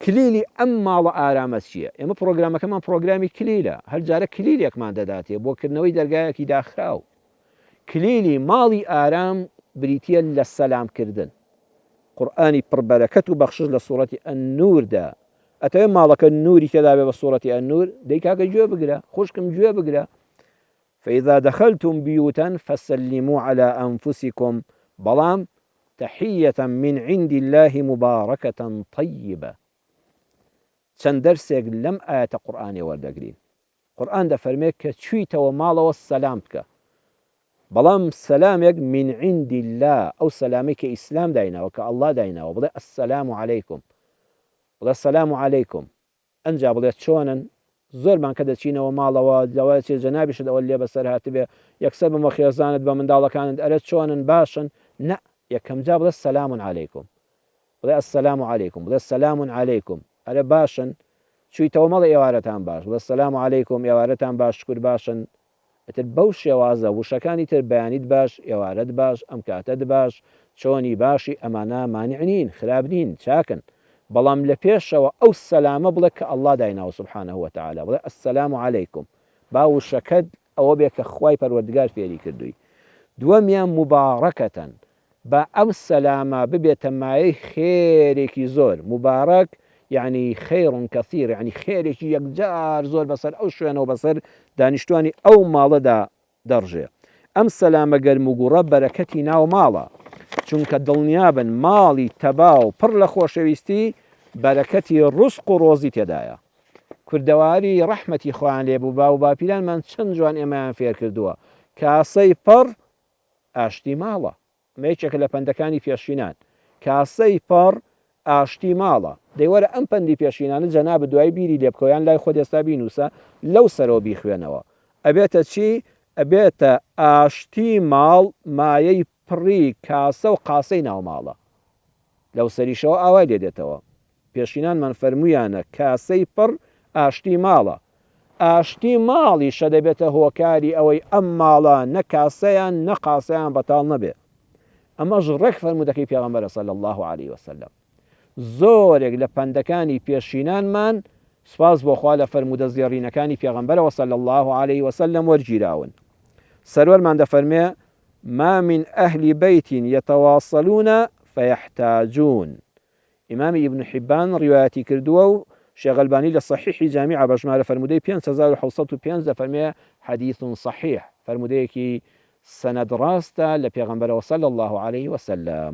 کلیلی ئەم ماڵە ئارامە چییە؟ ئێمە پڕۆگرامەکەمان پڕۆگرامی کلیلە، هەر جارە کلیلێکمان دەداتێ بۆ کردنەوەی دەرگایەکی داخراو. کلیلی ماڵی ئارام بریتییە لە سەلام کردن. قورئانی پڕ بەرەکەت و بەخشش لە سوڕەتی النور دا. ئەتەوێ ماڵەکەت نوری تێدابێ بە سوڕەتی النور؟ دەی کاکە گوێ بگرە، خوشکم گوێ بگرە. فاذا دخلتم بیوتا فسلموا علی انفسکم بەڵام تحیە من عند اللە مبارکە طیبە چەند دەرسێک لەم ئایەتە قورئانێ وەردەگرین قورئان دەفەرمێ کە چویتەوە ماڵەوە سەلام بکە بەڵام سەلامێک من عند اللە ئەو سەلامەی کە ئیسلام دایناوە کە ئەڵڵا دایناوە بڵێ السلام علیکم بڵێ سەلام علیکم ئنجا بڵێ چۆنن؟ زۆرمان کە دەچینەوە ماڵەوە، لەوە چێ جەنابیشت ئەوە لێ بەسەر هاتبێ، یەکسەر بە مۆ خێزانت، بە منداڵەکانت، ئەرێ چۆنن؟ باشن؟ نە، یەکەم جار بڵێ سلام علیکم. بڵێ السلام علیکم. بڵێ سلام علیکم. ئەرێ باشن؟ چوویتەوە مەڵێ ئێوارەتان باش. بڵێ سلام علیکم، ئێوارەتان باش، شکور باشن؟ ئتر بەو شێوازە وشەکانی تر بەیانیت باش ئێوارەت باش ئەم کاتەت باش چۆنی باشی ئەمانە مانع نین خراپ نین چاکن بەڵام لە پێشەوە ئەو سەلامە بڵێ کە اللە دایناوە سبحانە وتعالی بڵێ السلام علیکم با وشەکەت ئەوە بێ کە خوای پەروەردگار فێری کردووی دووەمیان مبارکە با ئەم سەلامە ببێتە مایەی خێرێکی زۆر، موبارەک یەعنی خیر کەثیر، یەعنی خێرێکی یەکجار زۆر بەسەر ئەو شوێنەو بەسەر دانیشتوانی ئەو ماڵەدا دەڕژێ. ئەم سەلامە گەرموگوڕە بەرەکەتی ناو ماڵە، چونکە دڵنیابن ماڵی تەباو پڕ لە خۆشەویستی بەرەکەتی ڕزق و ڕۆزی تێدایە. کوردەواری ڕەحمەتی خوایان لێبوو باوو باپیرانمان چەند جوان ئێمەیان فێرکردووە، کاسەی پڕ ئاشتی ماڵە ئەمە یەکێکە لە پەندەکانی پێشینان کاسەی پەڕ ئاشتی ماڵە دەی وەرە ئەم پەندی پێشینانە جەنابت دوای بیری لێ بکەوە یان لای خۆت ئێستا بینووسە لەو سەرەوە بیخوێنەوە ئەبێتە چی ئەبێتە ئاشتی ماڵ مایەی پڕی کاسە و قاسەی ناو ماڵە لەو سەریشەوە ئاوای لێ دێتەوە پێشینانمان فەرموویانە کاسەی پڕ ئاشتی ماڵە، ئاشتی ماڵیشە دەبێتە هۆکاری ئەوەی ئەم ماڵە نە کاسەیان نە قاسەیان بەتاڵ نەبێ، ئەمەش ڕێک فەرموودەکەی پێغەمبەرە صلی اللە علیە وسلم. زۆرێک لە پەندەکانی پێشینانمان سوپاس بۆ خوا لە فەرموودە زێڕینەکانی پێغەمبەرەوە صلی اللە علیە وسلم وەرگیراون. سەروەرمان دەفەرمێ، ما من اهل بیت یتواصلون فیحتاجون، ئیمامی ئیبن حیبان ڕیوایەتی کردووە و شێخ ئەلبانی لە سەحیحی جامیعە بە ژمارە فەرموودەی پێنج هەزار و حەوت سەد و پێنج دەفەرمێ، حەدیث صحیح، فەرموودەیەکی سەنەد ڕاستە لە پێغەمبەرەوە صلی اللە علیە وسلم.